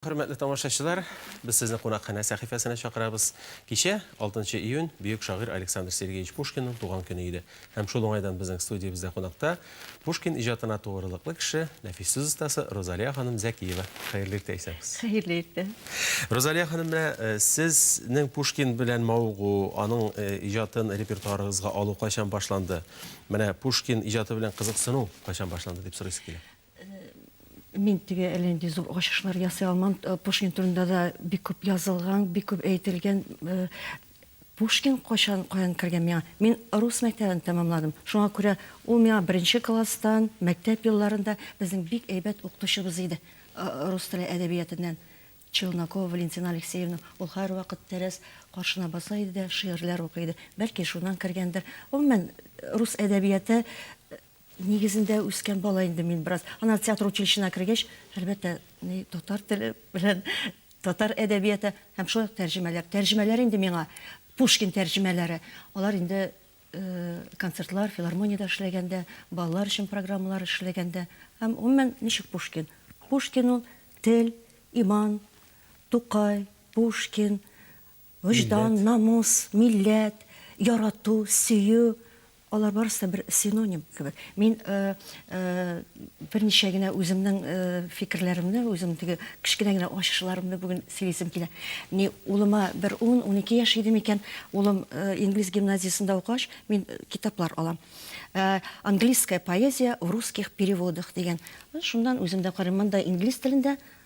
Хөрмәтле тамашачылар, без сезне кунакханә сәхифәсенә чакырабыз. Кичә, 6 нчы июнь, бөек шагыйрь Александр Сергеевич Пушкинның туган көне иде. Һәм шул уңайдан безнең студиябездә кунакта Пушкин иҗатына тугрылыклы кеше, нәфис сүз остасы Розалия ханым Зәкиева. Хәерле иртә, исәнмесез. Хәерле иртә. Розалия ханым, менә сезнең Пушкин белән мавыгу, аның иҗатын репертуарыгызга алу кайчан башланды? Менә Пушкин иҗаты белән кызыксыну кайчан башланды, дип сорыйсы килә. Мин теге әллә нинди зур ачышлар ясый алмам. Э, Пушкин турында да бик күп язылган, бик күп әйтелгән. Э, Пушкин кайчан каян кергән миңа? Мин рус мәктәбен тәмамладым. Шуңа күрә ул миңа беренче класстан, мәктәп елларында безнең бик әйбәт укытучыбыз иде. Э, рус теле әдәбиятеннән Челнокова Валентина Алексеевна. Ул һәрвакыт тәрәз каршына баса иде дә шигырьләр укый иде. Бәлки шуннан кергәндер. Гомумән, рус әдәбияты Нигезендә үскән бала инде мин бераз. Аннары театр училищена кергәч, әлбәттә, ни татар теле белән татар әдәбияты һәм шулай ук тәрҗемәләр. Тәрҗемәләр инде миңа Пушкин тәрҗемәләре. Алар инде концертлар, филармониядә эшләгәндә, балалар өчен программалар эшләгәндә. Һәм, гомумән, ничек Пушкин? Пушкин ул, тел, иман, Тукай, Пушкин, Вөҗдан, намус, милләт, ярату, сөю, алар барысы да бер синоним кебек. Мин берничә генә үземнең фикерләремне, үзем теге кечкенә генә ачышларымны бүген сөйлисем килә. Ни, улыма бер ун, унике яшь иде микән, улым инглиз гимназиясендә укыгач, мин китаплар алам. Английская поэзия в русских переводах дигән. Шуннан үзем дә карыйм. Монда инглиз телендә,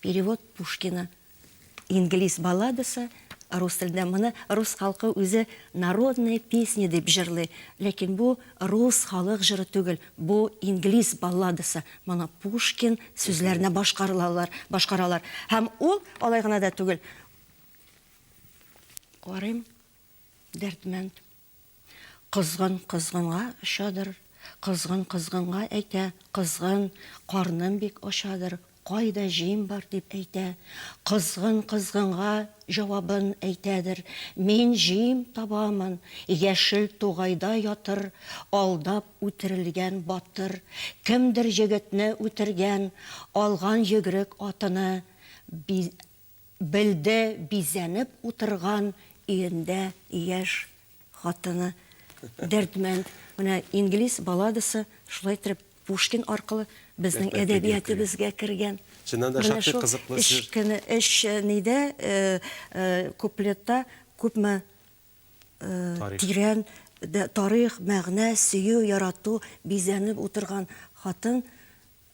Перевод Пушкина. Инглиз балладасы рус телендә. Моны рус халкы үзе народная песня дип җырлый. Ләкин бу рус халык җыры түгел, бу инглиз балладасы. Моны Пушкин сүзләренә башкарылалар, башкаралар. Һәм ул алай гына да түгел. Карыйм, Дәрдмәнд. Козгын козгынга очадыр, Козгын козгынга әйтә, Козгын, карным бик ачадыр, Кайда җим бар дип әйтә. Козгын козгынга җавабын әйтәдер, Мин җим табамын, Яшел тугайда ятыр, Алдап үтерелгән батыр. Кемдер егетне үтергән, Алган йөгерек атыны, Бил Белде бизәнеп утырган өендә яшь хатыны Дәрдмәнд. Менә Инглиз балладасы шулай иттереп Пушкин аркылы безнең әдәбиятебезгә кергән. Чыннан да шактый кызыклы җыр. Менә шул өч нидә, куплетта күпме тирән тарих, мәгънә, сөю, ярату, бизәнеп утырган хатын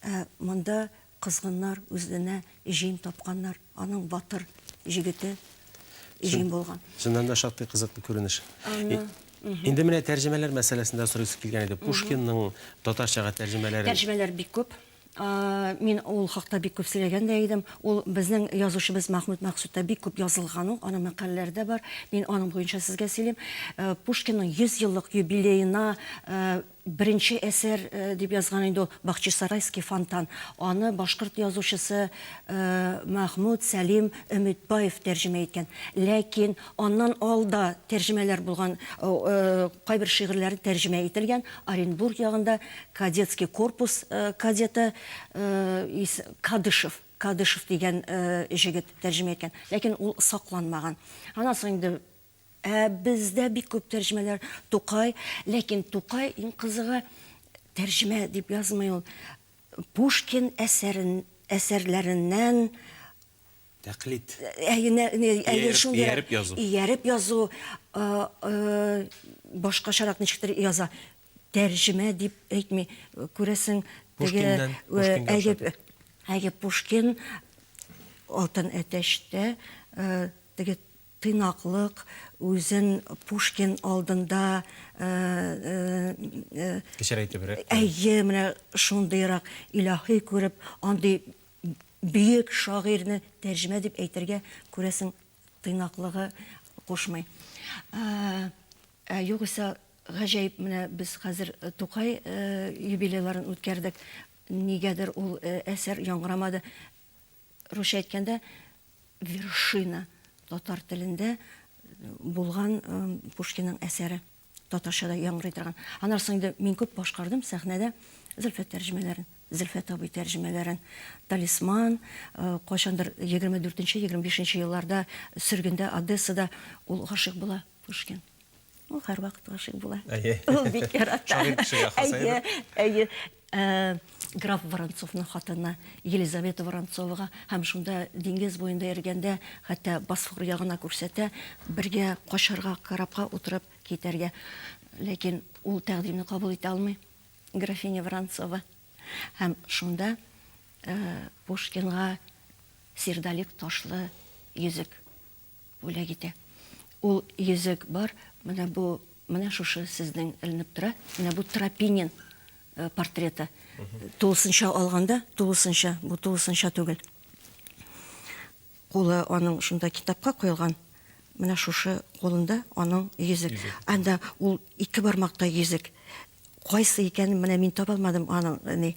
Ә монда козгыннар үзенә җим тапканнар, аның батыр җегете җим булган. Чыннан да шактый кызыклы күренеш. Инде менә тәрҗемәләр мәсьәләсендә сорыйсы килгән иде. Пушкинның татарчага тәрҗемәләре. Тәрҗемәләр бик күп. Мин ул хакта бик күп сөйләгән дә идем. Ул безнең язучыбыз Мәхмүт Мәкъсүттә бик күп язылган ул, аның мәкаләләре дә бар. Мин аның буенча сезгә сөйлим. Пушкинның 100 еллык юбилеена Беренче әсәр дип язган инде ул Бахчисарайский фонтан. Аны башкорт язучысы Мәхмүт Сәлим Өметбаев тәрҗемә иткән. Ләкин аннан алда тәрҗемәләр булган, кайбер шигырьләре тәрҗемә ителгән. Оренбург ягында Кадетский корпус кадеты Кадышев, Кадышев дигән җегет тәрҗемә иткән. Ләкин ул сакланмаган. Аннан соң инде Ә бездә бик күп тәрҗемәләр Тукай, ләкин Тукай иң кызыгы тәрҗемә дип язмый ул. Пушкин әсәрен әсәрләреннән Тәкълид. Әйе, нә- нә- әйе, Ияреп- шундыйрак. ияреп язу. Ияреп язу, а, э, башкачарак ничектер яза. Тәрҗемә дип әйтми. Күрәсең, теге, Пушкиннан, э, Пушкинга әйе, ошатып. әйе, Пушкин Алтын әтәчтә, э, теге Тыйнаклык, үзен Пушкин алдында, Кечерәйтебрәк күрү. Әйе, менә шундыйрак илаһи күреп, андый бөек шагыйрьне тәрҗемә дип әйтергә, күрәсең, тыйнаклыгы кушмый. Ә югыйсә, гаҗәеп, менә без хәзер Тукай юбилейларын үткәрдек, нигәдер ул әсәр яңгырамады. Русча әйткәндә, вершина татар телендә булган Пушкинның әсәре татарча да яңгырый торган. Аннан соң инде мин күп башкардым сәхнәдә Зөлфәт тәрҗемәләрен, Зөлфәт абый тәрҗемәләрен, Талисман, э, кайчандыр 24-25 елларда сөргендә Одессада ул гашыйк була Пушкин. Ул һәрвакыт гашыйк була. Әйе. Ул бик ярата. Шагыйрь кешегә хас әйбер. Әйе, әйе. Граф Воронцовның хатыны Елизавета Воронцовага һәм шунда диңгез буенда йөргәндә, хәтта Босфор ягына күрсәтә, бергә качарга, корабка утырып китәргә. Ләкин ул тәкъдимне кабул итә алмый, графиня Воронцова. Һәм шунда Пушкинга Сердолик ташлы йөзек Бүләк итә. Ул йөзек бар, менә бу, менә шушы сезнең эленеп тора, менә бу Тропинин портреты. Тулысынча алганда, тулысынча, бу тулысынча түгел. Кулы аның шунда китапка куелган, менә шушы кулында аның йөзек. Анда ул ике бармакта йөзек. Кайсы икәнен менә мин таба алмадым аның, ни,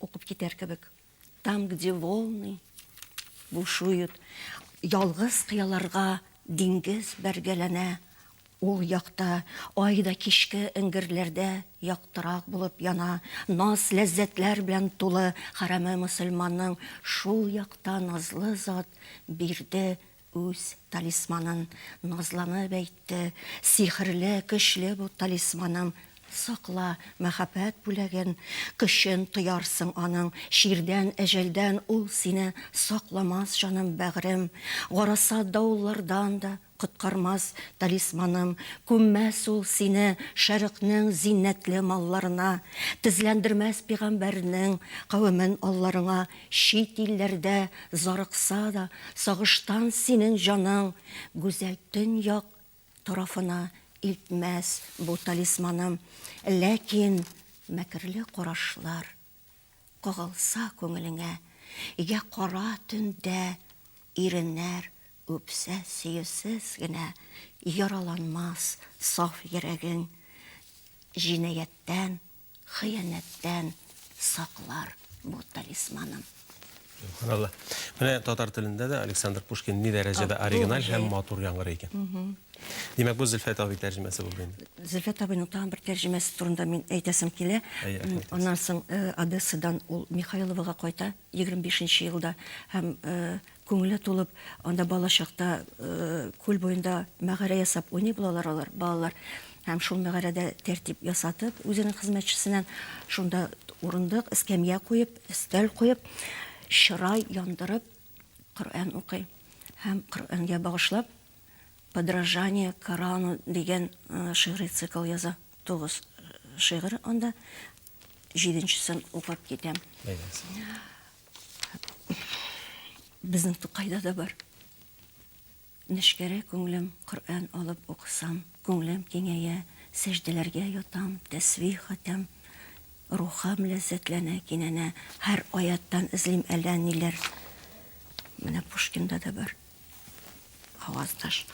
Укып китәр кебек. Там, где волны бушуют. Ялгыз кыяларга диңгез бәргәләнә. Ул якта ай да кичке эңгерләрдә яктырак булып яна. Наз-ләззәтләр белән тулы хәрәме мөселманның шул якта назлы зат Бирде Үз талисманын назланып әйтте, Сихерле, көчле бу талисманым, Сакла мәхәббәт бүләген, көчен тоярсың аның, Чирдән, әҗәлдән ул сине сакламас, җаным, бәгърем, Гарасат давыллардан да коткармас талисманым, Күммәс ул сине шәрыкнең зиннәтле малларына, Тезләндермәс пигамбәрнең кавемен алларыңа, Чит илләрдә зарыкса да, Сагыштан синең җаның, Гүзәл Төньяк тарафына Илтмәс бу талисманың. Ләкин мәкерле карашлар Кагылса күңелеңә, Йә кара төндә иреннәр Үпсә, сөюсез генә яраланмас саф йөрәгең, җинаятьтән, хыянәттән саклар бу талисманым. Субханалла. Менә татар телендә дә Александр Пушкин ни дәрәҗәдә оригиналь һәм матур яңгырый икән. Димәк, бу Зөлфәт абый тәрҗемәсе булды инде. Зөлфәт абыйның тагын бер тәрҗемәсе турында мин әйтәсем килә. Әйе, әйтегез. Аннан соң Одессадан ул Михайловага кайта. егерме бишенче елда һәм күңеле тулып анда балачакта күл буенда мәгарә ясап уйный булалар алар балалар һәм шул мәгарәдә тәртип ясатып үзенең хезмәтчесеннән шунда урындык эскәмия куеп өстәл куеп чырай яндырып коръән укый һәм коръәнгә багышлап подражание корану дигән шигъри цикл яза Тугыз шигырь анда. Җиденчесен укып китәм. Безнең Тукайда да бар. Нешкәрә күңелем Коръән алып укысам, күңелем киңәя, сәҗдәләргә ятам, тәсбих хатам, рухым ләззәтләнә, кинәнә, һәр аяттан эзлим әллә ниләр. Менә Пушкинда да бар. Аваздаш.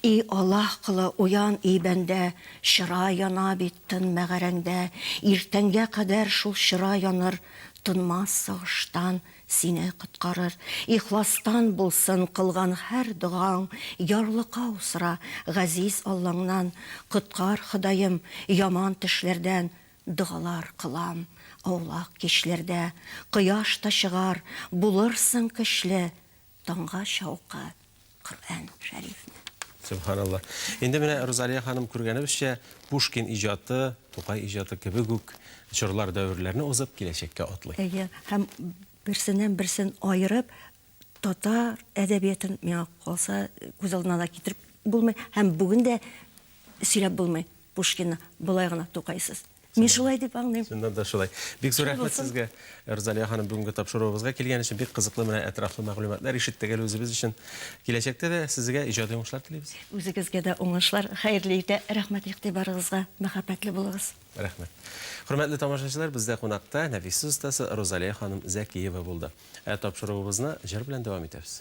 И Аллаһ колы, уян, и бәндә, Чыра яна бит тын мәгарәңдә, Иртәнгә кадәр шул чыра яныр, Тынмас сагыштан сине коткарыр. Ихластан булсын кылган һәр догаң, Ярлыкау сора газиз Аллаңнан, Коткар, Ходаем, яман төшләрдән, Догалар кылам аулак кичләрдә. Кояш та чыгар, булырсың көчле, таңга чаука Коръән шәрифне. Сөбханалла. Инде менә Розалия ханым күргәнебезчә, Пушкин иҗаты, Тукай иҗаты кебек үк чорлар дәверләрне узып киләчәккә атлый. Әйе, һәм берсеннән берсен аерып, татар әдәбиятын миңа калса күз алдына да китереп булмый, һәм бүген дә сөйләп булмый Пушкинны болай гына Тукайсыз. Мин шулай дип аңлыйм. Чыннан да шулай. Бик зур рәхмәт сезгә, Рузалия ханым, бүгенге тапшыруыбызга килгән өчен бик кызыклы менә әтрафлы мәгълүматлар ишеттек әле үзебез өчен. Киләчәктә дә сезгә иҗади уңышлар телибез. Үзегезгә дә уңышлар, хәерле иртә, рәхмәт игътибарыгызга, мәхәббәтле булыгыз. Рәхмәт. Хөрмәтле тамашачылар, бездә кунакта нәфис сүз остасы Рузалия ханым Зәкиева булды. Ә тапшыруыбызны җыр белән дәвам итәбез.